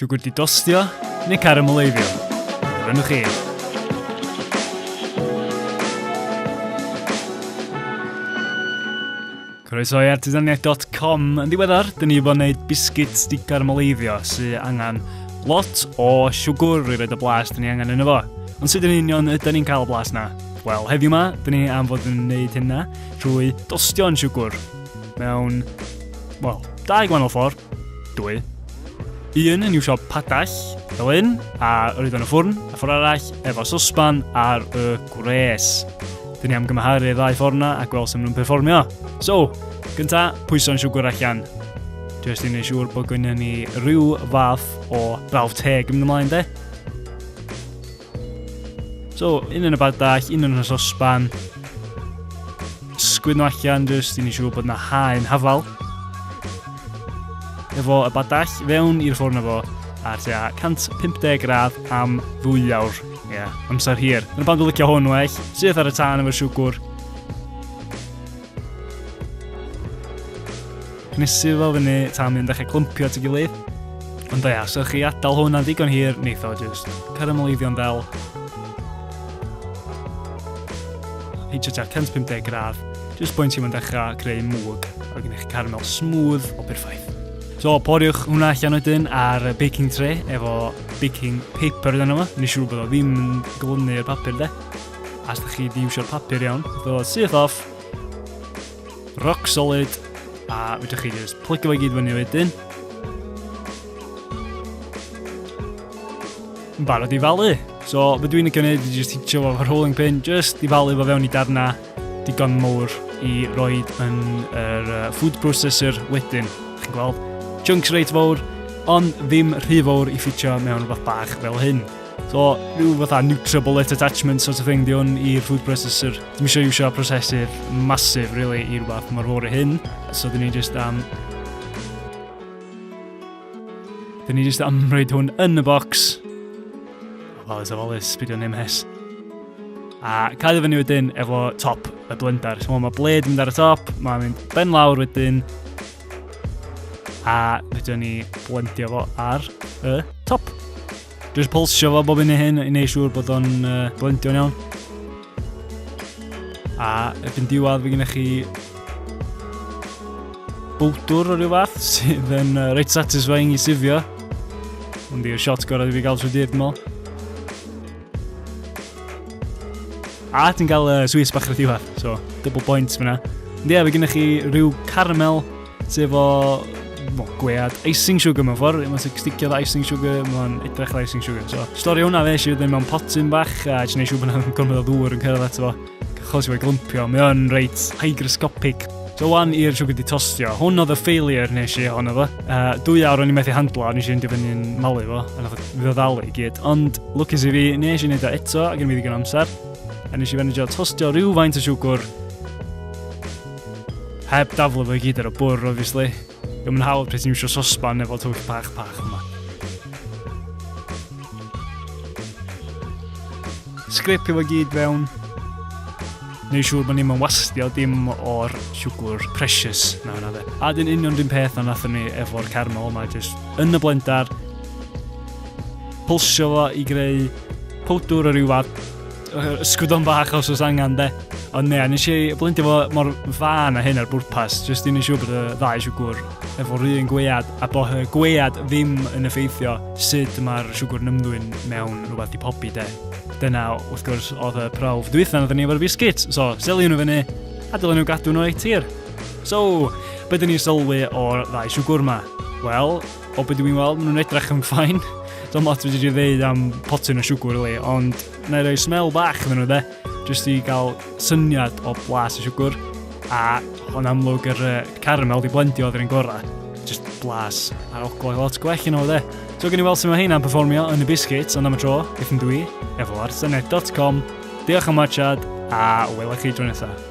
Siwgr di dostio neu carameleiddio? Dyna chi. Croeso i artisaniaeth.com. Yn ddiweddar, dyn ni wedi bod yn gwneud bisgyd sticar moleiddio sy'n angen lot o siwgr i roed y blas dyn ni angen yn efo. Ond sut yn union ydyn ni'n cael y blas na? Wel, heddiw yma, dyn ni am fod yn gwneud hynna trwy dostio'n siwgr mewn, wel, dau gwahanol ffordd, dwy, Un yn i'w siop padell, fel hyn, a yr oedd yn y ffwrn, a ffordd arall efo sosban ar y gwres. Dyn ni am gymharu y ddau ffordd yna a gweld sut maen nhw'n perfformio. So, gynta, pwyso'n siwgr allan. Jyst i wneud siŵr bod gynnu ni rhyw fath o brawf teg yn mynd ymlaen de. So, un yn y badach, un yn y sosban. Sgwyn nhw allan jyst i ni siŵr bod yna haen hafal. Efo y badach fewn i'r ffwrn efo a tua 150 gradd am ddwy awr. Ie, yeah, amser hir. Yn y pan dwi'n licio hwn well. Syth ar y tân efo'r siwgwr. Nes i fel fyny tan mynd â chi clympio at y gilydd. Ond da ia, so chi adael hwn am ddigon hir, neith o jyst carameliddion fel. Hitio tua 150 gradd, jyst boi'n ti'n mynd dechrau creu mwg, a gen eich caramel smooth o perffaith. So, poriwch hwnna allan wedyn ar baking tray efo baking paper dyn nhw. Nes i rwy'n bod o ddim yn glynu'r papur de. As da chi di iwsio'r papur iawn, fel oedd syth off, rock solid, a fydwch chi just plygio fe gyd fyny wedyn. Yn barod i falu. So, fydw i'n y gwneud i just hitio fo fy rolling pin, just i falu fo fewn i darna digon mowr i roed yn yr uh, food processor wedyn. Chi'n gweld? Chunks reit fawr, ond ddim rhy fawr i ffitio mewn rhywbeth bach fel hyn. So, rhyw fatha NutriBullet attachment sort of thing di hwn i'r food processor. Dwi'n eisiau iwsio prosesydd masif, really, i rhywbeth mor fawr i hyn. So, dyn ni just am... Dyn ni just am rhaid hwn yn y box. Wel, ys ofalus, byd o'n MS. A cael fyny wedyn efo top y blender. So, mae bled yn mynd ar y top, mae'n mynd ben lawr wedyn. A fydden ni blendio fo ar y top. Dwi'n pulsio fo bob un i hyn i wneud siŵr bod o'n uh, blendio'n iawn. A erbyn diwedd fe gennych chi bwdwr o ryw fath sydd yn uh, reit satisfying i sifio. Ond i'r shot gorau i fi gael trwy dydd, dwi'n A ti'n cael uh, sweets bach ar y diwedd, so double points fyna. Ond ie, fe gennych chi rhyw caramel Ti efo mo, gwead icing sugar mewn ffordd, mae'n sticio dda icing sugar, mae'n edrych ar icing sugar. So, stori hwnna fe eisiau ddim mewn potyn bach, a eisiau gwneud siw bod yna'n gormod o ddŵr yn cyrraedd ato fo, achos i fe glympio, mae o'n reit hygroscopic. So wan i'r siwgr di tostio. Hwn oedd y failure nes i ohono fo. Uh, dwy awr o'n i'n methu handlo, o'n i'n siarad i fyny'n malu fo, a nath o ddalu i gyd. Ond, lwcus i fi, nes i wneud o eto, ac yn fi ddigon amser. A nes i fanigio tostio rhyw faint o siwgr Heb daflu fo i gyd ar y bwr, obviously. Ddim yn hawdd pryd ti'n misio sosban efo twll pach pach yma. Sgripio fo gyd fewn. Neu siŵr bod ni'n wastio dim o'r siwgwr precious na hwnna fe. A dyn union dyn peth na nathon ni efo'r caramel yma, jyst yn y blendar. Pulsio fo i greu powdwr o ryw fad Ysgwydon bach os oes angen de. Ond ne, nes i blindio fo mor fan a hyn ar bwrpas, jyst i'n siŵr bod y ddau siwgwr efo'r un gwead a bod y gwead ddim yn effeithio sut mae'r siwgwr yn ymddwyn mewn rhywbeth di pobi de. Dyna, wrth gwrs, oedd y prawf dwytha na ni efo'r biscuit, so seli nhw fyny a dylen nhw gadw nhw ei tir. So, beth dyn ni sylwi o'r ddau siwgwr yma? Wel, o beth dwi'n weld, maen nhw'n edrych yn ffain. Dwi'n lot wedi dweud am potyn o siwgwr, le, ond Na i roi smell bach iddyn nhw de, jyst i gael syniad o blas y siwgr. A o'n amlwg yr uh, caramel di blendio oedd yr un gorau. Just blas ar oglau lot gwell yn o de. So gen i weld sy'n mae hynna'n performio yn y biscuits, ond am y tro, beth yn dwi, efo ar senedd.com. Diolch am watchad, a wela chi dro nesaf.